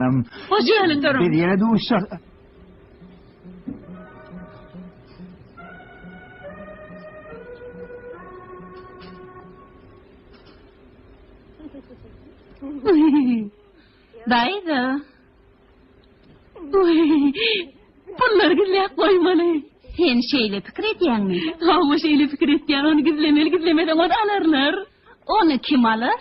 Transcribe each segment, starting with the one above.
Hoş gelip durun. Biz ýene duşuşak. Daýza. Pullary gizläp goýmaly. Sen şeýle pikir edýäňmi? Hawa, şeýle pikir etýän, ony gizlemeli, gizlemeden ony alarlar. Ony kim alar?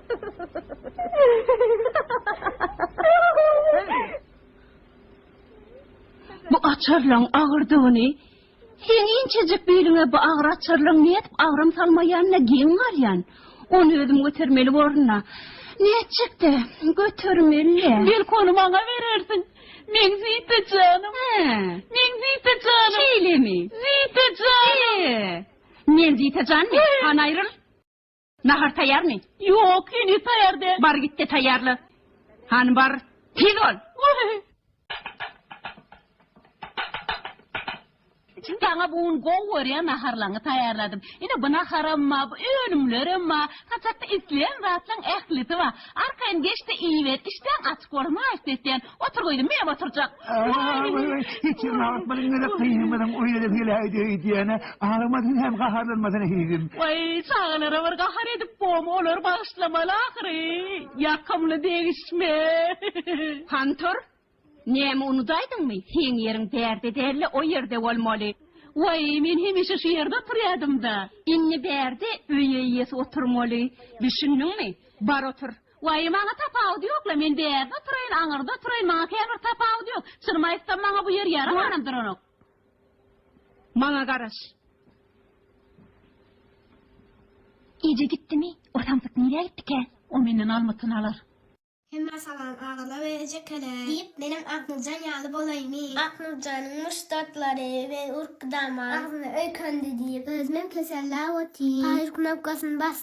Bu açarlaň agyrdygyny Seň inçejik biliňe bu agyr açarlaň nädip agram salmaýanyna geň galýan. Ony özüm götermeli borun-da. Nätjek-de, götermeli-le. Belki ony maňa berersiň. Meň Zita janym. Hä. Meň Zita janym. Şeýlemi? Zita janym. He. Men Zita janmy? Hany aýryl. Nahar taýýarmy? Ýok, heniz taýýar däl. Bar git-de taýýarla. Hany bar, tiz bol! Wah-y-y! Saňa bu gün gowy görýän naharlaňy taýýarladym. Ine, bu naharam bar, bu önümlerem bar. Saçakda isleýän zatlaň ählisi bar. Arkaýyn geç-de iýiber, işdäň açyk bolsun, haýyşt etýän. Otur gyzym, meýem oturjak. Hiç ýerini agyrtmadyň gezek gyzymyzyň oýuna-da geläýdi öýdýän-ä. Agyrmadyň hem gaharlanmasaň hezil. Waý, çagalara bir gahar edip bom, olary bagyşlamaly ahyry. Ýakymly degişme. Hantur, näme unudaýdyňmy, seň ýeriň bärde däl-le o ýerde bolmaly. Waý, men hemişe şu ýerde oturýadym-da. Indi bärde öý eýesi oturmaly, düşündiňmi? Bar otur. Waý, maňa tapawudy ýok-la, men bärde oturaýyn, aňyrda oturaýyn, maňa käbir tapawudy ýok. Çynymy aýtsam, maňa bu ýer ýaramanam duranok. Maňa garaş. Eje gitdimi? O samsyk nirä gitdikä? O menden almytyny alar. Hemmä salam, agala we ejekelere! Diýip, menem Aknurjan ýaly bolaýmy? Aknurjanyň muşdaklary we urkdama agzyny öýkendi diýip, özümem kesellap otyryn. Paýyr knopkasyny basdym.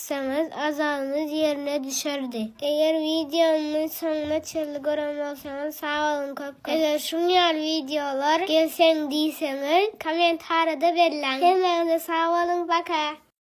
etseňiz azabyňyz ýerine düşerdi. Eger wideomyň soňuna çenli gören bolsaňyz sag boluň köp köp. Eger şuň ýaly wideolar gelsin diýseňiz kommentarada belläň. Hemmäňize sag boluň paka.